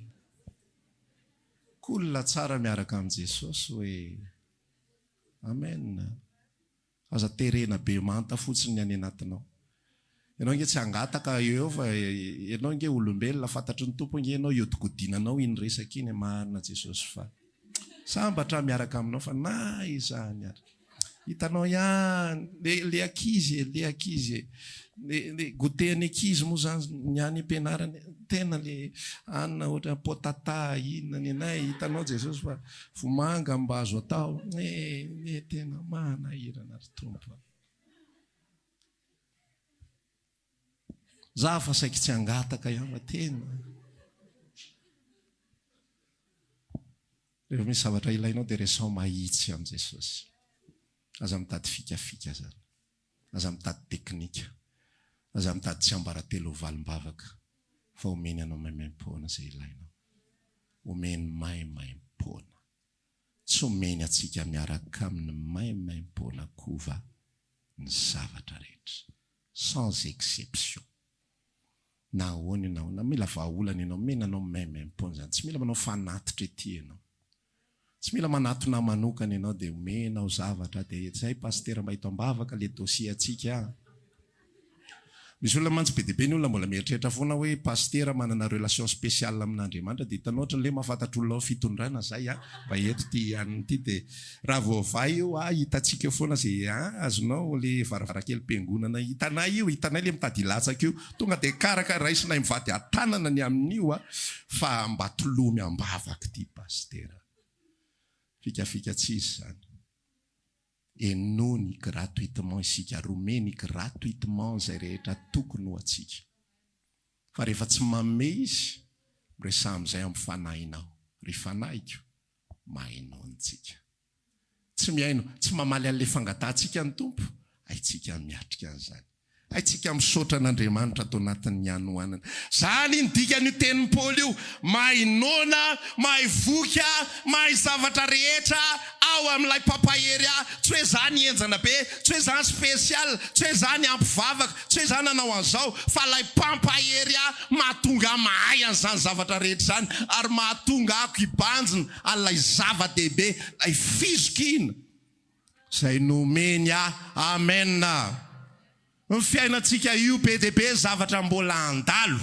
Koa olona tsara miaraka amin'i Jesosy hoe. Amen. Aza terena be manta fotsiny ny any anatinao. Ianao ange tsy hangataka eo eo fa ianao ange olombelona fantatry ny Tompo ange ianao iodikodina anao iny resaka iny marina Jesosy fa sambatra aho miaraka aminao fa na izany ary hitanao ihany le le ankizy e le ankizy e le le goûter any ankizy moa zany ny any am-pianarana tena le anina ohatra potata inona nenay hitanao Jesosy fa Vomanga mba azo atao. Eny e, tena manahirana ry Tompo a. Za fa saiky tsy hangataka ihany fa tena. Rehefa misy zavatra ilainao dia resaho mahitsy an'i Jesosy. Aza mitady fikafika zany. Aza mitady teknika. Aza mitady tsiambaratelo ho valim-bavaka fa omeny anao maimaim-poana izay ilainao. Omeny maimaim-poana. Tsy omeny antsika miaraka aminy maimaim-poana koa va ny zavatra rehetra. Sans exception. Na ahoana ianao, na mila vahaolana ianao, omena anao maimaim-poana izany. Tsy mila manao fanatitra ety ianao. Tsy mila manatona manokana ianao dia omenao zavatra dia izay pasitera mba eto ambavaka le dossier antsika a! Misy olona mantsy be dia be ny olona mbola mieritreritra foana hoe pasitera manana relation special amin'Andriamanitra dia hitanao ohatran'ny hoe mahafantatra olona ao fitondrana zay a! Mba eto ty an ity dia raha voavaha io a! Hitantsika eo foana ze a! Azonao le varavarakely piangonana hitanay io, hitanay le mitady hilatsaka io. Tonga dia karaka raisinay mivady atanana ny amin'io a fa mba tolomy ambavaka ity pasitera. Fikafika tsy izy izany. Enony gratuitement isika, romeny gratuitement izay rehetra tokony ho antsika. Fa rehefa tsy manome izy, miresaha amin'izay amin'ny fanahinao. Ry fanahiko, mahay nonon-tsika. Tsy mihaino, tsy mamaly an'ilay fangatahantsika ny Tompo. Haintsika miatrika an'izany. Haintsika misaotra an'Andriamanitra ato anatin'ny hanoanana. Izany no dikan'io tenin'i Paoly io, mahay noana, mahay voky aho, mahay zavatra rehetra aho amin'ilay mpampahery ahy. Tsy hoe izaho nihenjana be, tsy hoe izaho spécial, tsy hoe izaho niampy vavaka, tsy hoe izaho nanao an'izao, fa ilay mpampahery ahy mahatonga ahy mahay an'izany zavatra rehetra izany ary mahatonga ahy hibanjina ary ilay zava-dehibe, ilay fizokiana izay nomeny ahy. Amen! Ny fiainantsika io, be dia be zavatra mbola handalo.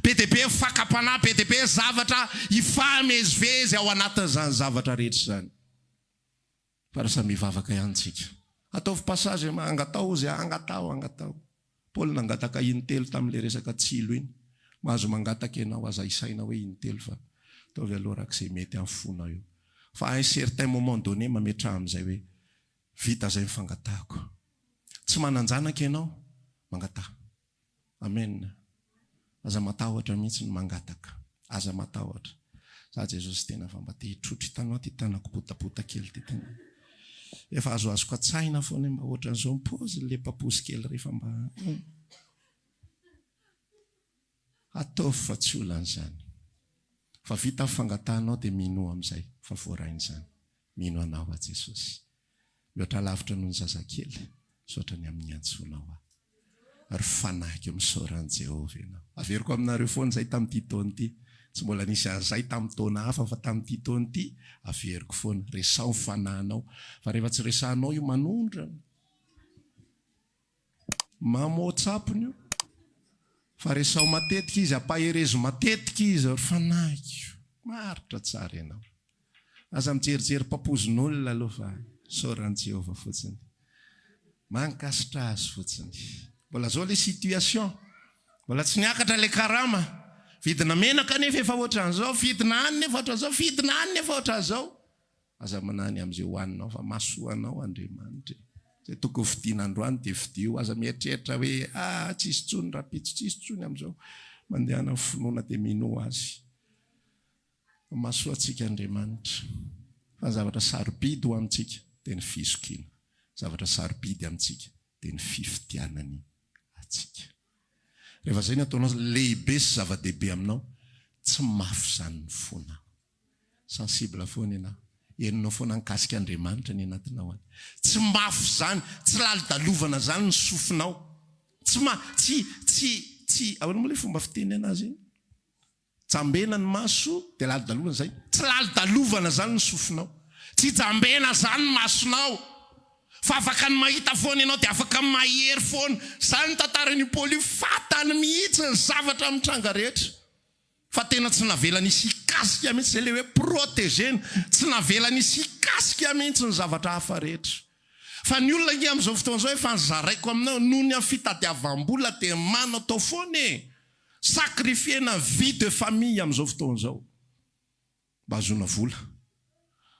Be dia be fakam-panahy, be dia be zavatra hifamezivezy ao anatin'izany zavatra rehetra izany. Fa lasa mivavaka ihany tsika. Ataovy passage ma, angataho ozy a, angataho, angataho. Paoly nangataka intelo tamin'ilay resaka tsilo iny. Mahazo mangataka ianao, aza isaina hoe intelo fa ataovy aloha arak'izay mety amin'ny fonao eo. Fa à un certain moment donné mametraha amin'izay hoe, vita izay ny fangatahako. Tsy manan-janaka ianao? Mangataha. Amen aza matahotra mihitsy ny mangataka aza matahotra za jesosy tena fa mba te hitrotro hitanao ty tanako botabota kely ty tena efa azoazoko atsahina foana mba ohatran'izao ny paozy le papozy kely rehefa mba ataovy fa tsy olan'izany fa vita fangatahanao dia minoa amin'izay fa voarain'izany Mino Anao aho Jesosy. Mihoatra lavitra noho ny zazakely, misaotra ny amin'ny antsoinao aho. Ary fanahiko misaora an'i Jehovah ianao. Averiko aminareo foana izay tamin'ity taona ity. Tsy mbola nisy an'izay tamin'ny taona hafa fa tamin'ity taona ity, averiko foana. Resaho ny fanahinao. Fa rehefa tsy resahinao io manondrana. Mamo ao an-tsapony io fa resaho matetika izy, ampaherezo matetika izy ry fanahiko. Maharitra tsara ianao. Aza mijerijery papozin'olona aloha fa isaora an'i Jehovah fotsiny. Mankasitra azy fotsiny. Mbola izao ilay situation. Mbola tsy niakatra ilay karama. Vidina menaka anefa efa ohatran'izao, vidina hanina efa ohatran'izao, vidina hanina efa ohatran'izao. Aza manany amin'izay hohaninao fa mahasoa anao Andriamanitra e! Izay tokony fidiana androany dia fidio, aza mieritreritra hoe ah tsy hisy intsony rapitso, tsy hisy intsony amin'izao. Mandehana amin'ny finoana dia minoa Azy. Hamasoa antsika Andriamanitra. Fa ny zavatra sarobidy ho amintsika dia ny fizokiana. Ny zavatra sarobidy amintsika dia ny fifidianany antsika. Rehefa izay ny ataonao, lehibe sy zava-dehibe aminao, tsy mafy izany ny fonao. Sensible foana ianao. Henonao foana mikasika Andriamanitra ny anatinao any. Tsy mafy izany, tsy lalodalovana izany ny sofinao. Tsy ma, tsy, tsy, tsy, ahoana moa ilay fomba fiteny anazy iny? Jambena ny maso dia lalodalovana izay. Tsy lalodalovana izany ny sofinao. Tsy jambena izany ny masonao. Fa afaka ny mahita foana ianao dia afaka mahery foana. Izany ny tantaran'io Paoly io. Fantany mihitsy ny zavatra mitranga rehetra. Fa tena tsy navelany hisy hikasika mihitsy izay le hoe protégena, tsy navelany hisy hikasika mihitsy ny zavatra hafa rehetra. Fa ny olona ange amin'izao fotoana izao efa zaraiko aminao noho ny amin'ny fitadiavam-bola dia manao tao foana e! Sacrifier-na vie de famille amin'izao fotoana izao. Mba ahazoana vola.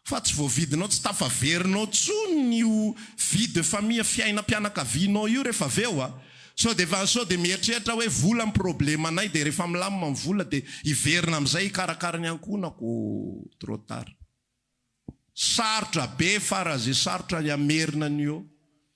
Fa tsy voavidinao, tsy tafaverinao intsony io vie de famille, fiainam-pianakavianao io rehefa avy eo a! Sao dia efa, sao dia mieritreritra hoe vola no problemanay dia rehefa milamina ny vola dia hiverina amin'izay hikarakara ny ankohonako oh! Trop tard. Sarotra be fara ze sarotra ny hamerina an'io.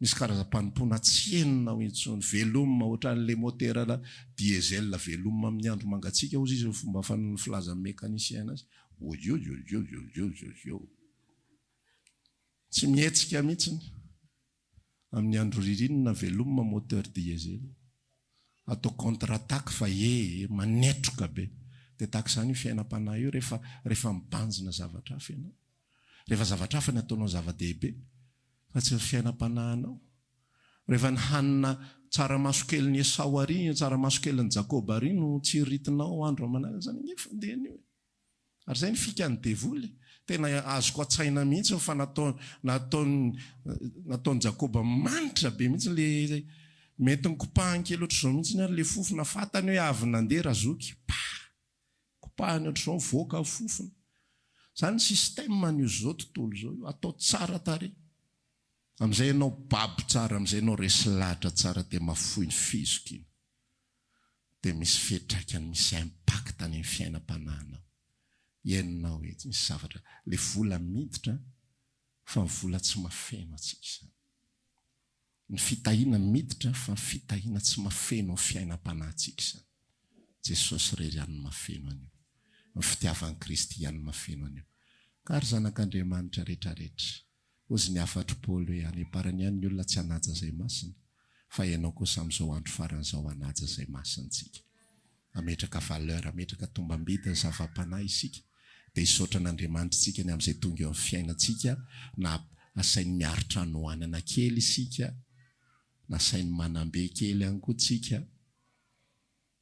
Misy karazam-panompoana tsy henonao intsony, veloma ohatran'ilay motera diesel veloma amin'ny andro mangatsiaka hozy izy, fomba fanon'ny filazan'ny mécanicien azy. Oyoyoyooyoyoyooyoyoyoyoyoyoyoyoyooyooyooyooyoooyoyoyoyoyoyoyoyooyooyoyoyo Inona veloma moteur diesel? Atao contre attaque fa ee manetroka be. Dia tahaka izany io fiainam-panahy io rehefa rehefa mibanjina zavatra hafa ianao. Rehefa zavatra hafa ny ataonao zava-dehibe fa tsy ny fiainam-panahinao. Rehefa ny hanina tsaramaso kelin'i Esao àry, tsaramaso kelin'i Jakoba àry no tsiritinao andro aman'alina, izany ange fandehany io e! Ary izay ny fikan'ny devoly e! Tena azoko an-tsaina mihitsy fa nataony nataon'i Jakoba manitra be mihitsy ilay mety nikopahany kely ohatr'izao mihitsy àry ilay fofona fatany hoe avy nandeha razoky, pah! Kopahina ohatr'izao mivoaka ny fofona. Izany ny système anio izao tontolo izao io. Atao tsara tarehy. Amin'izay ianao babo tsara, amin'izay ianao resy lahatra tsara dia mahafoy ny fizokiana. Dia misy fiantraikany, misy impact any amin'ny fiainam-panahinao. Henonao etsy, misy zavatra. Ilay vola miditra fa ny vola tsy mahafeno antsika izany. Ny fitahiana miditra fa fitahiana tsy mahafeno ny fiainam-panahintsika izany. Jesosy irery ihany no mahafeno an'io. Ny fitiavan'i Kristy ihany no mahafeno an'io. Ka ry zanak'Andriamanitra rehetra rehetra, hozy ny hafatr'i Paoly hoe haneparany ihany ny olona tsy hanaja izay masina, fa ianao kosa amin'izao andro farany izao hanaja izay masina tsika. Hametraka valeur, hametraka tombam-bidin'ny zava-panahy isika, dia hisaotra an'Andriamanitra isika ny amin'izay tonga eo amin'ny fiainantsika, na asainy miaro tranohanana kely isika, na asainy manam-be kely ihany koa tsika.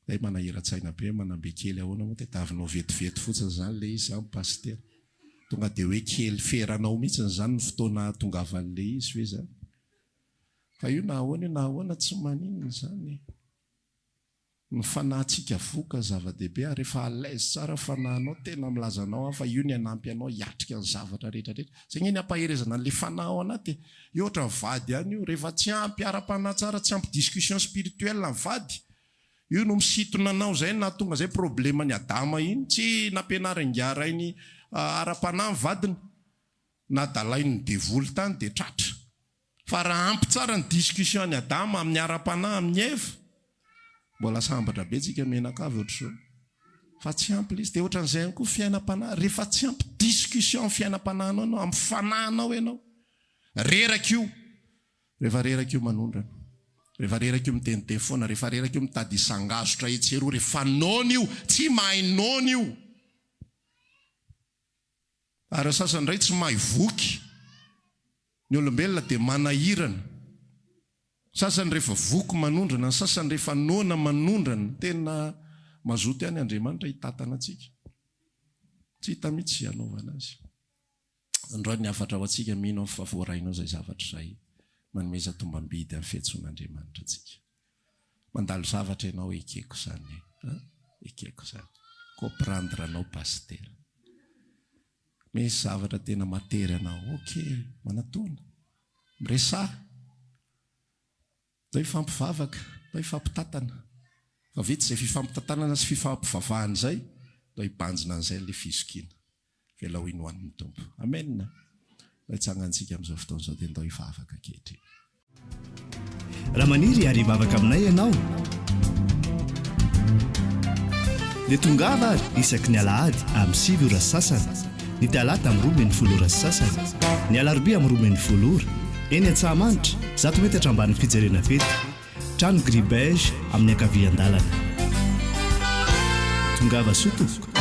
Hay manahiran-tsaina be ny manam-be kely ahoana moa, tadiavinao vetivety fotsiny izany ilay izy an, Pasitera? Tonga dia hoe kely feranao mihitsiny izany ny fotoana hahatongavan'ilay izy ve izany? Fa io na ahoana io na ahoana tsy maninona izany e! Ny fanahintsika voka zava-dehibe ary efa à l'aise tsara ny fanahinao, tena milaza anao aho fa io ny hanampy anao hiatrika ny zavatra rehetra rehetra. Izay ange ny ampaherezana an'ilay fanahy ao anaty e! Io ohatran'ny vady ihany io, rehefa tsy ampy ara-panahy tsara, tsy ampy discussion spirituelle ny vady, io no misintona anao izay no nahatonga izay probleman'i Adama iny, tsy nampianarin-gaharainy ara-panahy ny vadiny, nadalain'ny devoly tany dia tratra. Fa raha ampy tsara ny discussion an'i Adama amin'ny ara-panahy amin'i Eva, mbola sambatra be tsika mianakavy ohatr'izao. Fa tsy ampy ilay izy. Dia ohatran'izay ihany koa fiainam-panahy. Rehefa tsy ampy discussion amin'ny fiainam-panahinao ianao, amin'ny fanahinao ianao, reraka io. Rehefa reraka io manondrana. Rehefa reraka io miteniteny foana. Rehefa reraka io mitady hisangazotra etsy sy eroa. Rehefa noana io, tsy mahay noana io. Ary sasany indray tsy mahay voky. Ny olombelona dia manahirana. Ny sasany rehefa voky manondrana, ny sasany rehefa noana manondrana. Tena mazoto ihany Andriamanitra hitantana antsika. Tsy hita mihitsy izay hanaovana azy. Androany ny hafatra ho antsika, mino aho fa voarainao izay zavatra izay. Manomeza tombam-bidy amin'ny fiantsoan'Andriamanitra antsika. Mandalo zavatra ianao ekeko izany e! ekeko izany comprendre anao Pasitera. Misy zavatra tena matery anao. Ok, manatona. Miresaha. Ndao hifampivavaka, ndao hifampitatana. Fa vita izay fifampitantanana sy fifampivavahana izay, ndao hibanjina an'izay ilay fizokiana. Velao inoany ny Tompo. Amen! Mba hitsangantsika amin'izao fotoana izao dia ndao hivavaka ankehitriny. Raha maniry ary hivavaka aminay ianao, dia tongava ary isaky ny Alahady amin'ny sivy ora sy sasany, ny Talata amin'ny roa ambin'ny folo ora sy sasany, ny Alarobia amin'ny roa ambin'ny folo ora, eny Antsahamanitra, zato metatra ambanin'ny fijerena fety, trano gris beige amin'ny ankavian-dalana. Tongava soa tompoko.